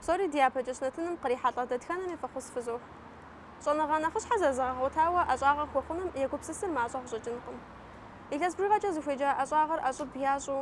Псори дяпэкӏэщ нэтыным кърихьэлӏэ дэтхэнэми фӏэхъус фызох. Щӏэныгъэ нэхъыщхьэ зэрызэгъэгъуэтауэ ӏэщӏагъэ хуэхъуным егупсысыр мащӏэ къыщӏэкӏынкъым. Илъэс бжыгъэкӏэ зыхуеджа ӏэщӏагъэр ӏэщӏыб ящӏу,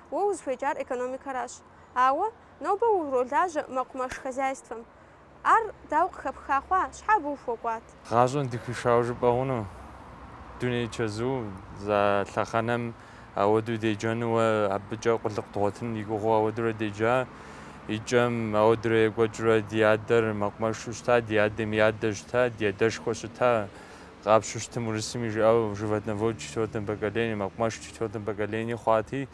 Уэ узыхуеджар экономикэращ. Ауэ нобэ уролажьэ мэкъумэш хозяйствэм. Ар дауэ къыхэпха хъуа, щхьэ абы ухуэкӏуат? Гъащӏэм дыхуишауэ жыпӏэ хъуну? Дуней чэзу а лъэхъэнэм ауэдэу деджэну уэ абыкӏэ къулыкъу дгъуэтын ди гугъэу ауэдурэ деджа. И кӏэм ауэдурэ екӏуэкӏыурэ ди адэр мэкъумэшу щыта, ди адэм и адэ щыта, ди адэшхуэ щыта. Къапщу щытым урысым жиӏэу животновод в четвертом поколении, мэкъумэш в четвертом поколении хъуати,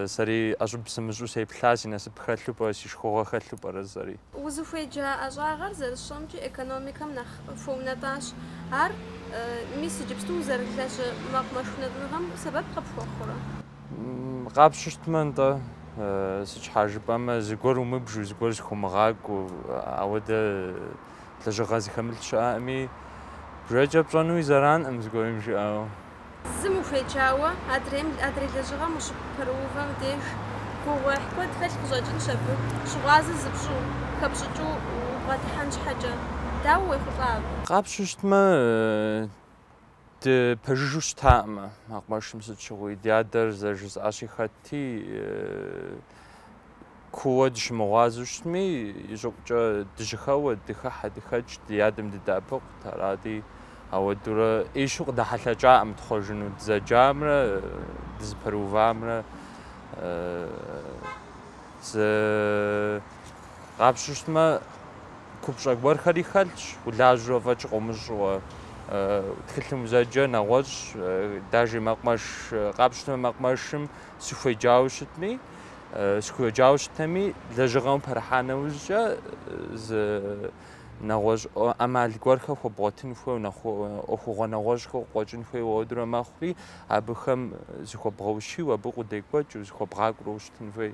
сэри ӏэщӏыб сымыщӏу сеплъа, си насып хэлъу пӏэрэ, си шхыгъуэ хэлъу пӏэрэ жысӏэри. Узыхуеджа ӏэщӏагъэр зэрысщӏэмкӏи экономикэм нэхъ хуэунэтӏащ. Ар, мис, иджыпсту узэрылажьэ мэкъумэш унэтӏыныгъэм сэбэп къыпхуэхъурэ? Къапщу щытмэ, нтӏэ. Сыт щхьа жыпӏэмэ, зыгуэр умыбжу, зыгуэр зыхумыгъакӏуэу, ауэ дэ лэжьыгъэ зыхэмылъ щыӏэкъыми, бжэкӏэ пщӏэнуи зэранкъым, зыгуэрым жиӏауэ. Зым ухуеджауэ, адрейм, адрей лэжьыгъэм ущыпэрыувэм деж, гугъуехь куэд хэлъ къыщӏэкӏынщ абы, щыгъуазэ зыпщӏу, хэпщӏыкӏыу убгъэдыхьэн щхьэкӏэ. Дауэ уехъулӏа абы? Къапщу щытмэ, Дыпэжыжу щытаӏым мэкъумэшым сыт щыгъуи. Ди адэр зэрыжысӏащи хэтти, кууэ дыщымыгъуазэу щытми, и щӏыӏукӏэ дыжьэхэуэ, дыхыхьэ, дыхэкӏ, ди адэм дыдэӏэпыкъут. Арати, ауэдурэ ӏейщу къыдэхьэлъэкӏакъым тхъуэжыну, дызэджамрэ дызыпэрыувамрэ зы Къапщу щытмэ, купщӏэ гуэрхэри хэлъщ, улажьэу фӏэкӏ къомыщӏэуэ. Тхылъым узэджэ нэгъуэщӏ, даже мэкъумэш, къапщу щытмэ, мэкъумэшым сыхуеджауэ щытми, сыхуеджауэ щытми, лэжьыгъэм пэрыхьа нэужькӏэ зы нэгъуэщӏ ӏэмал гуэрхэр хуэбгъуэтын хуейуэ, нэхъ ӏуэхугъуэ нэгъуэщӏхэр къыкъуэкӏын хуейуэ ауэдурэ мэхъури, абыхэм зыхуэбгъэущийуэ, абы къудекӏуэкӏыу, зыхуэбгъакӏуэу щытын хуей.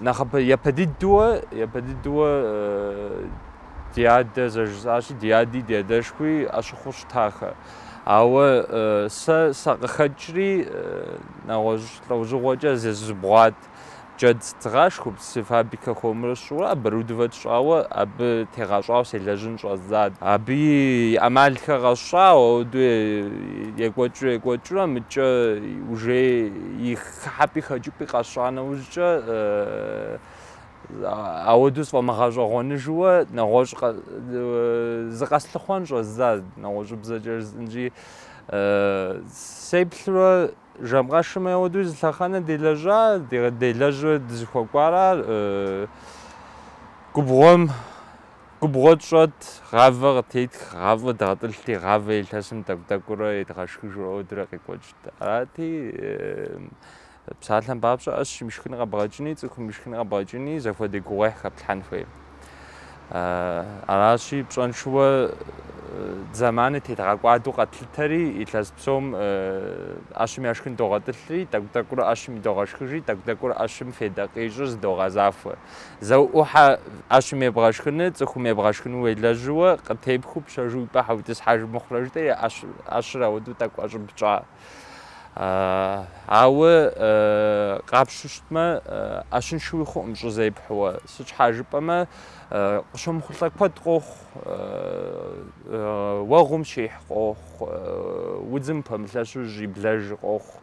Нэхъапэ дыдэуэ, япэ дыдэуэ ди адэ зэрыжысӏащи, ди ади ди адэшхуи ӏэщыхъуу щытахэ. Ауэ сэ сакъыхэкӏри, нэгъуэщӏ лӏэужьыгъуэкӏэ зызубгъуат. Джэд згъашхэу, птицефабрикэ хуэмурэ сщӏурэ оборудовать щӏауэ, абы тегъэщӏауэ селэжьын щӏэздзат. Абы и ӏэмалхэр къэсщӏауэ, ауэдэу екӏуэкӏыу-екӏуэкӏыурэ, мыкӏэ уже их Хыхьэпӏи хэкӏыпӏи къэсщӏа нэужькӏэ, ауэдэу сфӏэмыгъэщӏэгъуэныжууэ нэгъуэщӏ зыкъэслъыхъуэн щӏэздза нэгъуэщӏыбзэкӏэ жысӏэнщи, сеплъурэ жэм къэшым ауэдэу зы лъэхъэнэ делэжьа, делэжьурэ дызыхуэкӏуара, губгъуэм губгъуэ тщӏэт, гъавэ къытетх, гъавэ дгъэтӏылъти, гъавэ илъэсым тӏэкӏу-тӏэкӏуурэ едгъэшхыжурэ ауэдурэ къекӏуэкӏт. Арати, псалъэм папщӏэ, ӏэщым ишхын къэбгъэкӏыни, цӏыхум ишхын къэбгъэкӏыни зэхуэдэ гугъуехь хэплъхьэн хуей. Аращи, пщӏэншэуэ зэманыр тедгъэкӏуадэу къэтлъытэри, илъэс псом ӏэщым яшхын догъэтӏылъри, тӏэкӏу-тӏэкӏуурэ ӏэщым идогъэшхыжри, тӏэкӏу-тӏэкӏуурэ ӏэщым федэ къищӏыр зыдогъэзахуэ. Зэуӏухьэ ӏэщым ебгъэшхыны, цӏыхум ебгъэшхыну уелэжьыуэ, къытепхыу пщэжу ипӏэ хьэутӏыс хьэжи мыхъурэ жытӏэри, ӏэщыр ауэдэу тӏэкӏу ӏэщӏыб тщӏа. Ауэ къапщу щытмэ, ӏэщыншэуи хъуӏым щӏы зепхьэуэ. Сыт щхьа жыпӏэмэ, къыщомыхъулӏэ куэд къохъу, уэгъум щихь къохъу, удзым пэмылъэщу щиблэж къохъу.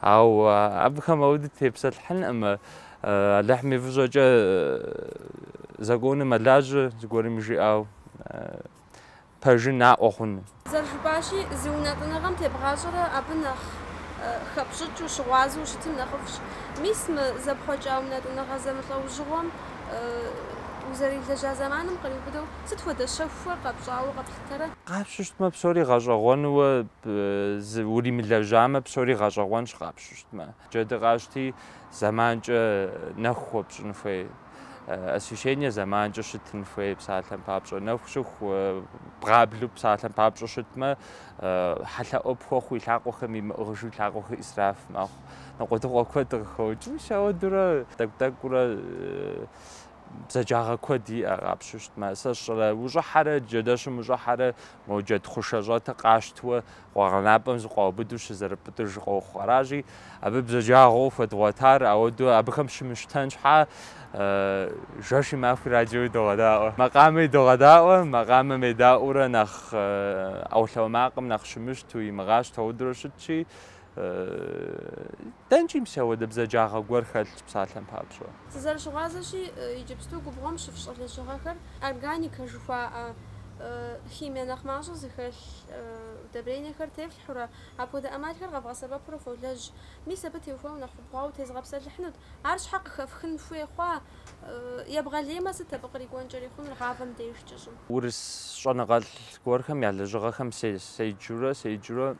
Ау абыхэм ауэдэу тепсэлъхьынӏым. Алыхьым и фӏыщӏэкӏэ законыр мэлажьэ зыгуэрым жиӏауэ пэжыр наӏуэ хъуну. Зэрыжыпӏащи, зы унэтӏыныгъэм тебгъащӏэрэ абы нэхъ хэпщӏыкӏыу, ущыгъуазэу ущытын нэхъыфӏщ. Мис мы зэпхъуэкӏа унэтӏыныгъэ зэмылӏэужьыгъуэм узэрилэжьа зэманым къриубыдэу сыт хуэдэ щэхухэр къэпщӏауэ къэплъытэрэ? Къапщу щытмэ, псори гъэщӏэгъуэнууэ Уримылэжьамэ, псори гъэщӏэгъуэнщ къапщу щытмэ. Джэды къащти, зэманкӏэ нэху хуэпщӏын хуей. Освещение зэманкӏэ щытын хуей псалъэм папщӏэ. Нэху щыху бгъаблу псалъэм папщӏэ щытмэ, хьэлъэӏуэ пхуэхъу и лъакъуэхэм имыӏыгъыжу и лъакъуэхэр исраф мэхъу. Ныкъуэдыкъуэ куэд къыхокӏ. Мис ауэдурэ тӏэкӏу-тӏэкӏурэ бзаджагъэ куэд иӏэ къапщу щытмэ, сэ сщӏэрэ ущӏыхьэрэ джэдэщым ущӏыхьэрэ мо джэд хъушэ щӏэтыр къащтуэ къуэгъэнапӏэм зыкъуаубыду щызэрыпӏытӏыж къохъу. Аращи, абы бзаджагъэу хуэдгъуэтар ауэду абыхэм щымыщтэн щхьа жэши махуи радиои догъэдаӏуэ, макъамэи догъэдаӏуэ, макъамэм едаӏуурэ нэхъ ӏэулъауэ макъым нэхъ щымыщту, имыгъащту ауэдурэ щытщи, Дэнкӏи мис ауэдэ бзаджагъэ гуэр хэлъщ псалъэм папщӏэ. Сызэрыщыгъуазэщи, иджыпсту губгъуэм щыфщӏы лэжьыгъэхэр органикэ жыхуаӏэ химие нэхъ мащӏэ зыхэлъ удобрениехэр тефлъхьурэ, апхуэдэ ӏэмалхэр къэвгъэсэбэпурэ фолэжь. Мис абы теухуауэ нэхъ убгъуауэ тезыгъэпсэлъыхьынут. Ар щхьэ къыхэфхын хуей хъуа? Ебгъэлеймэ, сыт абы кърикӏуэнкӏэри хъунур гъавэм дежкӏэ, щӏым? Урыс щӏэныгъэлӏ гуэрхэм я лэжьыгъэхэм седжурэ, седжурэ.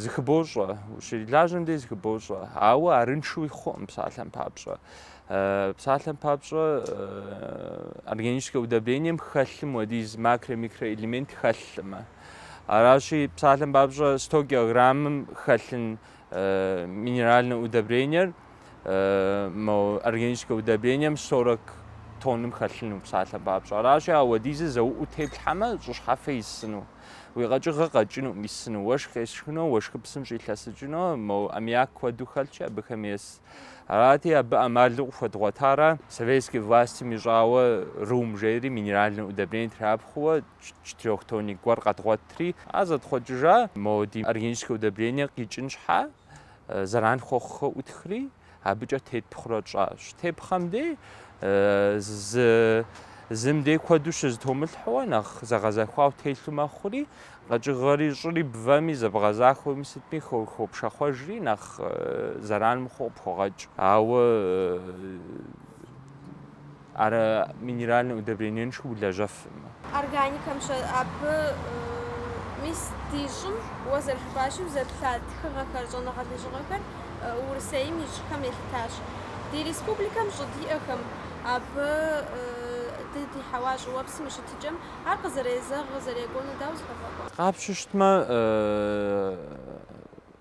Зыхыбощӏэ, ущрилажьэм дей зыхыбощӏэ, ауэ арыншуи хъуӏым псалъэм папщӏэ. Псалъэм папщӏэ органическэ удобрением хэлъым уэдиз макро-микроэлемент хэлъымэ. Аращи, псалъэм папщӏэ 100 килограммым хэлъын минеральнэ удобрениер органическэ удобрением 40 тонным хэлъыну псалъэм папщӏэ. Аращи, а уэдизыр зэуӏуу теплъхьэмэ, щӏы щхьэфэ исыну. Уи къэкӏыгъэ къэкӏыну, исыну, уэшх къешхыну, уэшхыпсым щӏилъэсыкӏыну, мо аммиак куэду хэлъкӏэ абыхэм ес. Арати, абы ӏэмалу къыхуэдгъуэтара? Советский властым ищӏауэ РУМ жейри минеральнэ удобрение трапхъуэуэ четырёхтонник гуэр къэдгъуэтри, ар зэтхъуэкӏыжа? Мо ди органическэ удобрение къикӏын щхьа, зэран хуэхъухэ ӏутхри, Абыкӏэ тетпхъурэ тщӏащ. Тепхъэм дей зы зым дей куэду щызэтомылъхьэуэ нэхъ зэгъэзэхуау телъу мэхъури, къэкӏыгъэри щӏыри бвэми зэбгъэзахуэми сытми хопшэхъуэжри нэхъ зэран мыхъуу къыпхуэгъэкӏ. Ауэ Ар минеральнэ удобрениеншэу улэжьэфӏым. Органикэм щэӏэпы. Мис ди щӏым, уэ зэрыжыпӏащи, узэплъа тхыгъэхэр, щӏэныгъэ лэжьыгъэхэр Урысейм и щӏыхэм елъытащ. Ди республикэм щӏы диӏэхэм абы дыдей хьэуа щӏыуэпсым и щытыкӏэм ар къызэрезэгъ къызэрекӏуну дауэ зыхэфӏэкӏуэ? Къапщтэмэ,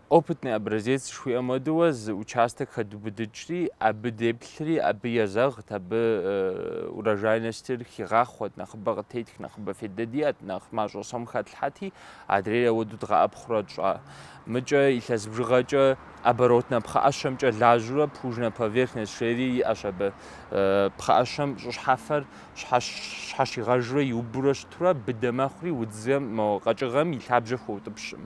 Опытный образец жыхуиӏэм уэдыуэ зы участок хэдубыдыкӏри, абы деплъри, абы езэгът, абы урожайностыр хигъахъуэт, нэхъыбэ къытетх, нэхъыбэ фейдэ диӏэт, нэхъ мащӏэ сом хэтлъхьэти, адрейр ауэду дгъэӏэпхъурэ тщӏа. Мыкӏэ илъэс бжыгъэкӏэ оборотнэ пхъэӏэщэмкӏэ лажьурэ плужнэ поверхность жери иӏэщ абы. Пхъэӏэщэм щӏыщхьэфэр щхьэщигъэжурэ иубурэ щытурэ быдэ мэхъури, удзым, мо къэкӏыгъэм и лъабжьэ хуэутӏыпщӏым.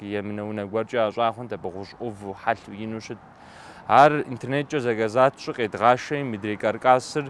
Емынэ унэ гуэркӏэ ящӏа хъунт абы гъущӏ ӏуву, хьэлъэу ину щыт. Ар интернеткӏэ заказать тщӏу къедгъашэи, мыдрей каркасыр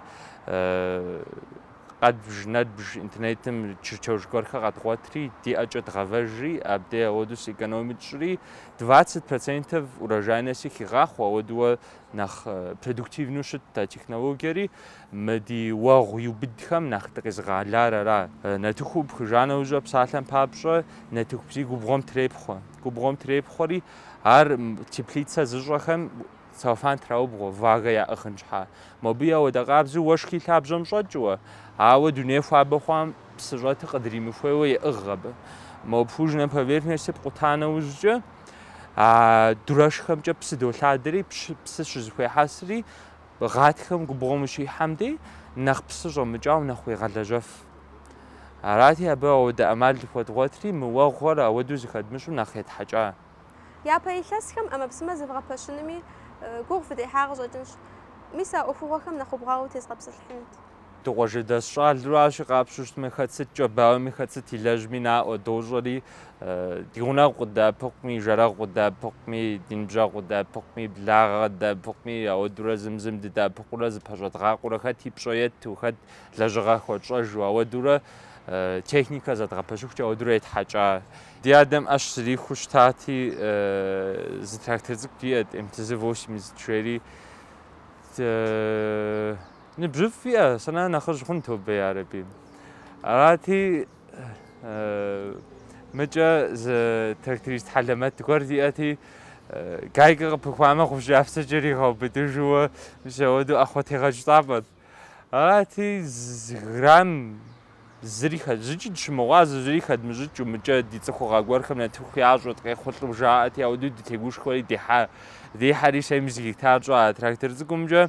къэдбж, нэдбж интернетым чертёж гуэрхэ къэдгъуэтри, ди ӏэкӏэ дгъэвэжри, абдей ауэду сэкономить тщӏри, двадцать процентов урожайности хигъахъуэ, ауэдууэ нэхъ продуктивну щытт а технологиери. Мы ди уэгъу иубыдхэм нэхъ дыкъезыгъэлар ара? Нартыху пхыжа нэужьэ псалъэм папщӏэ нартыху бзий губгъуэм трепхъуэ. Губгъуэм трепхъуэри ар теплицэ зыщӏэхэм целлофан траубгъуэ, влагэ яӏыгъын щхьа. Мобы я уэдэ къабзэу уэшхи лъабжьэм щӏэкӏыуэ, ауэ дуней хуабэ хъуам псы щӏэтыр къыдримыхуейуэ еӏыгъ абы. Мо плужнэ поверхность пкъута нэужькӏэ, А дурэшхэмкӏэ псы долъадэри, псы щызыхуехьэсри, гъатхэм губгъуэм ущихьэм дей нэхъ псы щӏэмыкӏауэ нэхъ уегъэлэжьэф. Арати, абы ауэдэ ӏэмал зыхуэдгъуэтри, мы уэгъуэр ауэдэу зыхэдмыщӏу нэхъ етхьэкӏа. Япэ илъэсхэм ӏэмэпсымэ зэгъэпэщынми гугъу фыдехьа къыщӏэкӏынщ. Мис а ӏуэхугъуэхэм нэхъ убгъуауэ утезгъэпсэлъыхьынут. Дыкъуажэдэс щӏалэу арщи, къапщу щытмэ, хэт сыткӏэ бауэми, хэт сыт илэжьми наӏуэ, дощӏэри, ди гъунэгъу къыдэӏэпыкъуми, жэрэгъу къыдэӏэпыкъуми, ди ныбжьэгъу къыдэӏэпыкъуми, благъэ къыдэӏэпыкъуми, ауэдурэ зым-зым дыдэӏэпыкъурэ, зыпэщӏэдгъакъуэрэ, хэт и пщӏэ етту, хэт лэжьыгъэ хуэтщӏэжу, ауэдурэ техникэ зэдгъэпэщыхукӏэ, ауэдурэ етхьэкӏа. Ди адэм ӏэщ зэрихуэу щытати, зы трактор цӏыкӏу диӏэт, МТЗ-80 жери. Ныбжьыфӏ иӏэ, сэнэ нэхъыжь хъун тобэ ярэби. Арати, мыкӏэ зы тракторист хьэлэмэт гуэр диӏэти, гайкэ къыпыхуамэ, гъущӏ кӏапсэкӏэ ригъэубыдыжууэ, мис ауэду ӏэхъуэтегъэкӏ цӏапӏэт. Арати, зы грамм зыри зыкӏи дыщымыгъуазэу, зыри хэдмыщӏыкӏыу, мыкӏэ ди цӏыхугъэ гуэрхэм нартыху ящӏэт, къехъулӏэу жаӏэти, ауэду дытегушхуэри дихьа. Дихьэри сэ мис гектар щӏа трактор цӏыкӏумкӏэ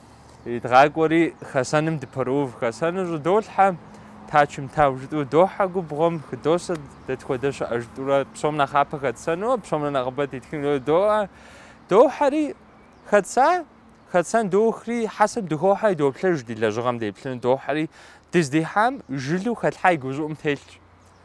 Идгъакӏуэри хэсэным дыпэроув. Хэсэныр щӏыдолъхьэ, тачым тау жытӏу дохьэ губгъуэм, хыдосэ дэ тхуэдэ щыӏэ жытӏурэ, псом нэхъапэ хэтсэну, псомрэ нэхъыбэ тетхыну доӏэ. Дохьэри, хэтса, хэтсэн дохри, хьэсэм дыхохьэри доплъэж ди лэжьыгъэм деплъыну дохьэри, дыздихьам жылу хэлъхьа и гущӏыӏум телъщ.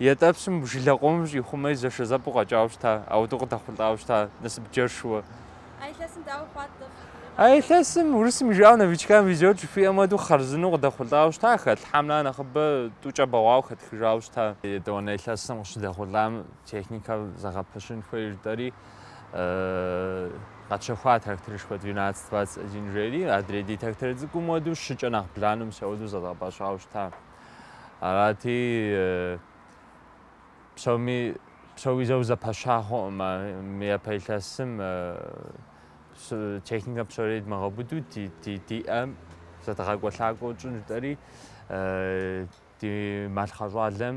Ятӏэпсым жылэ къомыр щӏихъумэри зэшэзэпӏэу къэкӏауэ щыта, ауэдэу къыдэхъулӏауэ щыта насып джэршууэ. А илъэсым дауэ хъуат дэ? А илъэсым урысым и жыӏауэ новичкам везет жыхуиӏэм хуэдэу хъарзынэу къыдэхъулӏауэ щыта, хэлъхьамрэ нэхъыбэ тӏукӏэ бэгъуауэ хэтхыжауэ щыта. Етӏуанэ илъэсым къыщыдэхъулӏам техникэр зэгъэпэщын хуей жытӏэри, къэтщэхуа тракторышхуэ двенадцать двадцать один жери, адрей ди трактор цӏыкӏум хуэдэу щыкӏэ нэхъ бланэу мис ауэдэу зэдгъэпэщауэ щыта. Арати, псоми псори зэу зэпэща хъукъым мы япэ илъэсым техникэ псори дмыгъэбыдэу диӏэм зэдгъакӏуэ-лъакӏуэу тщӏын жытӏэри ди малъхъэ щӏалэм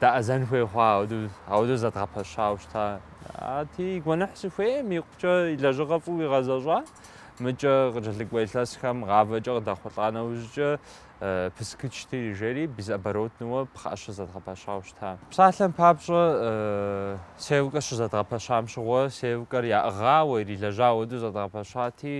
дэӏэзэн хуей хъуа, ауэдэу зэдгъэпэщауэ щыта. Ати, и гуэныхь сыхуейм икъукӏэ и лэжьыгъэ фӏыуэ игъэзэщӏа, мыкӏэ къыкӏэлъыкӏуэ илъэсхэм гъавэкӏэ къыдэхъулӏа нэужькӏэ пысыкычти, жери безоборотнэуэ пхъэӏэщэ зэдгъэпэщауэ щыта. Псалъэм папщӏэ, сеялкэр щызэдгъэпэщам щыгъуэ, сеялкэр яӏыгъауэ, ирилэжьа ауэдэу зэдгъэпэщати,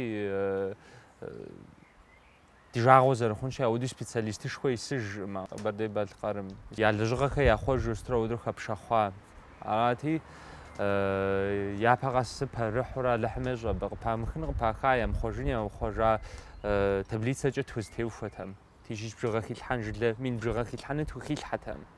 Ди жагъуэ зэрыхъунщи, ауэдуи специалистышхуэ исыжӏым Къэбэрдей-Балъкъэрым. Я лэжьыгъэхэр яхъуэжу сытрэ ауэдэу хэпшэхъуа. Арати, япэ къэс пэрыхьурэ Алыхьым ещӏэ абы къыпамыхын, къыпаха, ямыхъуэжын, яхъуэжа таблицэкӏэ тхузэтеухуэтэм. Тысяч бжыгъэ хилъхьэн жылэ мин бжыгъэ хилъхьэну тхухилъхьэтэм.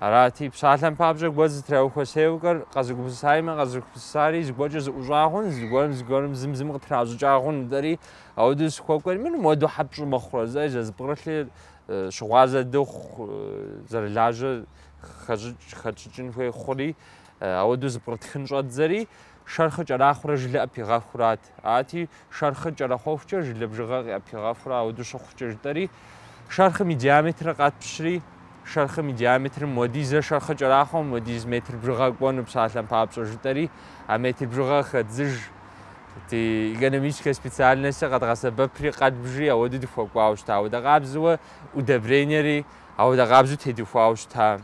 Арати, псалъэм папщӏэ гуэр зытраухуэ сеялкэр къэзыгупсысаимэ, къэзыгупсысари зыгуэркӏэ зыӏущӏа хъун, зыгуэрым зыгуэрым зым зым къытращӏыкӏа хъун, дэри ауэдэу сыхуэкӏуэр, мыр муэду хьэпщӏу мыхъурэ, зэ зэзыпкърылъи щыгъуазэ дыхъу, зэрылажьэ хэтщӏыкӏын хуей хъури, ауэдэу зыпкърытхын щӏэддзэри, шэрхъыр кӏэрахъуурэ жылэ ӏэпигъэхурат. къыщӏэкӏырт. Ати, шэрхъыр кӏэрэхъуэхукӏэ жылэ бжыгъэр къыӏэпигъэхурэ ауэду щыхъукӏэ жытӏэри, шэрхъым и диаметрыр къэтпщри, шэрхъым и диаметрым уэдизрэ шэрхъыр кӏэрахъуэм уэдиз метр бжыгъэ кӏуэну псалъэм папщӏэ жытӏэри, а метр бжыгъэр хэддзыж ди экономическэ специальностыр къэдгъэсэбэпри къэдбжри ауэду дыхуэкӏуауэ щыта, ауэдэ къабзэуэ удобрениери ауэдэ къабзэу тедухуауэ щыта.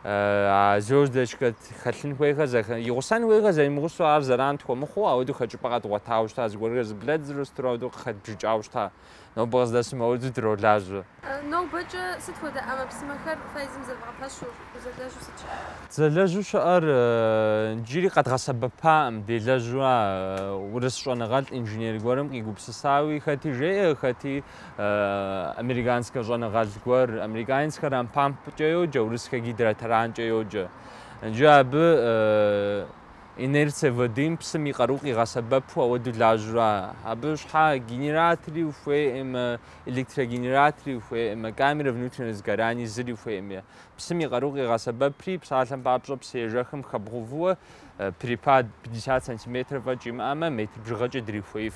а звездочкэ хэлъын хуейхэр, игъусэн хуейхэр зэримыгъусэу ар зэран тхуэмыхъуу, ауэдэу хэкӏыпӏэ къэдгъуэтауэ щыта, зыгуэрхэр зыблэддзыру сытрэ ауэдэу къыхэдбжыкӏауэ щыта. Нобэ къыздэсым ауэдэу дролажьэ. Нобэкӏэ сыт хуэдэ ӏэмэпсымэхэр фэ езым зэвгъэпэщу, узэлэжьу сыт щыӏэр? Зэлэжьу щыӏэр иджыри къэдгъэсэбэпаӏым, делэжьу ара, урыс щӏэныгъэлӏ инженер гуэрым къигупсысауи, хэти жеӏэ, хэти Американскэ щӏэныгъэлӏ гуэр американскэ рампампкӏэ йоджэ, урысскэ гидротаранкӏэ йоджэ. Джы абы инерция водым псым и къару къигъэсэбэпу ауэду лажьура. Абы щхьа генератори ухуейӏым, электрогенератори ухуейӏым, камера внутреннего сгорания зыри ухуейӏым. Псым и къару къигъэсэбэпри, псалъэм папщӏэ псыежэхым хэбгъувуэ перепад 50 сантиметров фӏэкӏ имыӏэмэ, метр бжыгъэкӏэ дрихуеиф.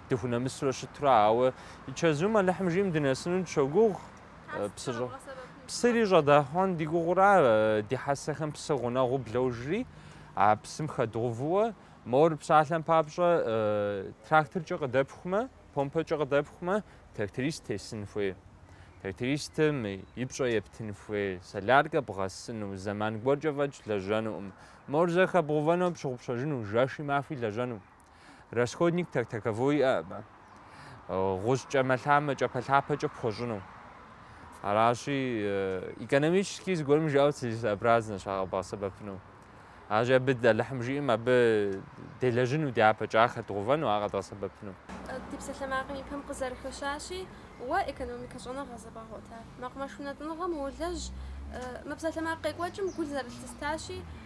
дыхунэмысурэ щытра, ауэ и чэзум Алыхьым жиӏэм дынэсыну дыщогугъ, псы щӏэ. Псыри щӏэдгъэхьэн ди гугъура, ди хьэсэхэм псы гъунэгъуу бложри, а псым хэдгъувыуэ, мор псалъэм папщӏэ тракторкӏэ къыдэпхумэ, помпэкӏэ къыдэпхумэ, тракторист тесын хуей. Трактористым и пщӏэ ептын хуей, соляркэ бгъэсыну, зэман гуэркӏэ фӏэкӏ лэжьэнукъым. Мор зэ хэбгъувэну, пщыгъупщэжыну, жэши махуи лэжьэну. Расходник так таковой иӏэ абы. Гъущӏ кӏэмэлъамэ, кӏапэлъапэкӏэ пхуэщӏыну. Аращи, экономически зыгуэрым жиӏэу целесообразнэщ ар къэбгъэсэбэпыну. Аращи, абы Алыхьым жиӏэм абы делэжьыну дяпэкӏэ хэдгъувэну, ар къэдгъэсэбэпыну. Ди псалъэмакъым и пэм къызэрыхэщащи, уэ экономикэ щӏэныгъэ зэбгъэгъуэта. Мэкъумэш унэтӏыныгъэм уолэжь, мы псалъэмакъ къекӏуэкӏым гу зэрылъыстащи,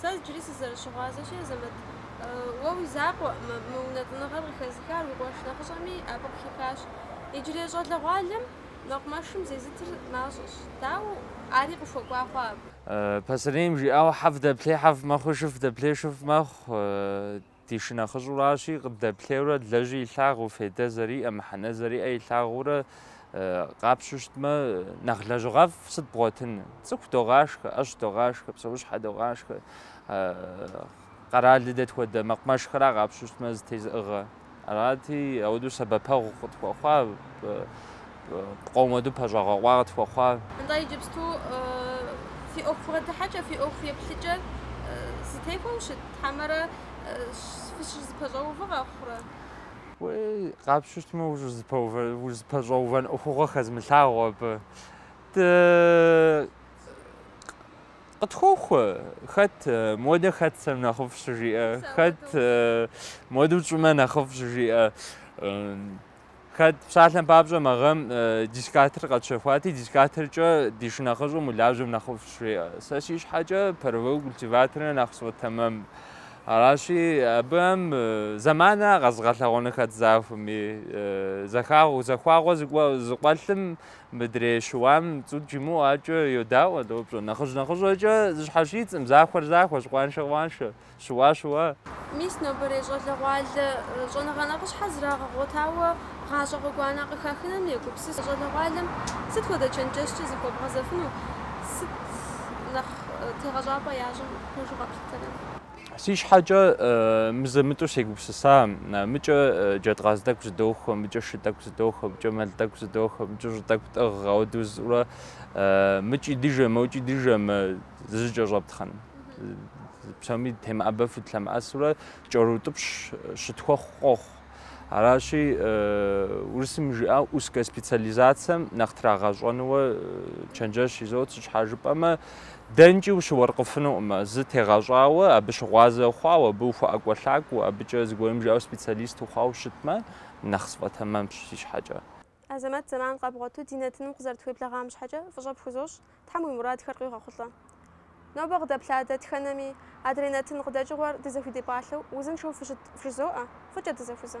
Сэ иджыри сызэрыщыгъуазэщи, Азэмэт, уэ уи закъуэкъым мы унэтӏыныгъэр къыхэзыхар, уи къуэш нэхъыщӏэми абы къыхихащ. Иджырей щӏалэгъуалэм мэкъумэшым зезытыр мащӏэщ, дауэ, ари къыхуэкӏуа хъуа абы. Пасэрейм жиӏауэ, Хьэфӏ дэплъей хьэфӏ мэхъуи, шыфӏ дэплъей шыфӏ мэхъу. Ди шынэхъыщӏуращи, къыддэплъейурэ лэжьи илъагъуу, фейдэ зэриӏэ, мыхьэнэ зэриӏэ илъагъуурэ къапщу щытмэ, нэхъ лэжьыгъэфӏ сыт бгъуэтын? Цӏыху догъашхэ, ӏэщ догъашхэ, псэущхьэ догъашхэ, къэрали дэ тхуэдэ мэкъумэшхэра къапщу щытмэ зэтезыӏыгъэ. Арати, ауэдэу сэбэпэгъу къытхуэхъуа Пкъоу моду пэщӏэгъэкъуа къытхуэхъуа. Нтӏэ, иджыпсту фи ӏуэху бгъэдыхьэкӏэ, фи ӏуэху еплъыкӏэр зэтехуэу щыт хьэмэрэ фыщызэпэщӏэувэ къэхъурэ? Уей, къапщу щытмэ, ущызэпэщӏэувэн ӏуэхугъуэ хэзмылъагъу абы. Къытхуохъу, хэт модэ хэтсэм нэхъыфӏ щыжиӏэ, хэт моду тщӏымэ нэхъыфӏ щыжиӏэ. Хэт псалъэм папщӏэ мы гъэм э, дискатор къэтщэхуати, дискаторкӏэ ди шынэхъыщӏэм улажьэм нэхъыфӏщ жеӏэ. Сэ си щхьэкӏэ паровой культиваторыр нэхъ сфӏэтэмэм. Аращи, абыхэм э, зэманыра къэзыгъэлъэгъуэну хэт захуэми, э, зэхагъ- захуагъэ зыкӏуэ- зыкъуэлъым мыдрей щыуам цӏут жимыӏэу акӏэ йодаӏуэ, допщӏэ. Нэхъыжь нэхъыщӏэкӏэ зэщхьэщыддзкъым захуэр захуэщ, къуаншэр къуаншэ. Щыуар щыуащ. Мис нобэрей щӏалэгъуалэ щӏэныгъэ нэхъыщхьэр зрагъэгъуэтауэ гъащӏэ гъуэгуанэ къыхэхыным егупсыс щӏалэгъуалэм сыт хуэдэ чэнджэщкӏэ захуэбгъэзэфыну, сыт нэхъ тегъэщӏапӏэ ящӏым хъужу къэплъытэрэ? Си щхьэкӏэ мызэ-мытӏэу сегупсыса, мыкӏэ джэд къаз тӏэкӏу зыдохуэ, мыкӏэ шы тӏэкӏу зыдохуэ, мыкӏэ мэл тӏэкӏу зыдохуэ, мыкӏэ щӏы тӏэкӏу тӏыгъ, ауэдэу зыӏурэ мыкӏи дыжэ, мокӏи дыжэмэ зызэкӏэщӏэптхъын. Псоми темыӏэбэфу дылъэмыӏэсурэ кӏэрутӏыпщ щытхуэхъу къохъу. Аращи, урысым жиӏау узкэ специализацэм нэхъ трагъэщӏэну чэнджэщ изот, сыт щхьа жыпӏэмэ, дэнкӏи ущыуэркъыфынукъымэ, зы тегъэщӏауэ, абы щыгъуазэ хъуау, абы ухуэӏэкӏуэлъакӏуэу, абыкӏэ зыгуэрым жиӏау специалист ухъуау щытмэ, нэхъ сфӏэтэмэмщ си щхьэкӏэ. Азэмэт зэман къэбгъуэту ди нэтыным укъызэрытхуеблэгъам щхьэкӏэ фӏыщӏэ пхузощӏ, Тхьэм уи мурадхэр къигъэхъулӏэ. Нобэ къыдэплъа дэтхэнэми, адрей нэтын къыдэкӏыгъуэр дызэхуидепӏалъэу узыншэу фыщыт фжызоӏэ, фӏыкӏэ дызэхузэ.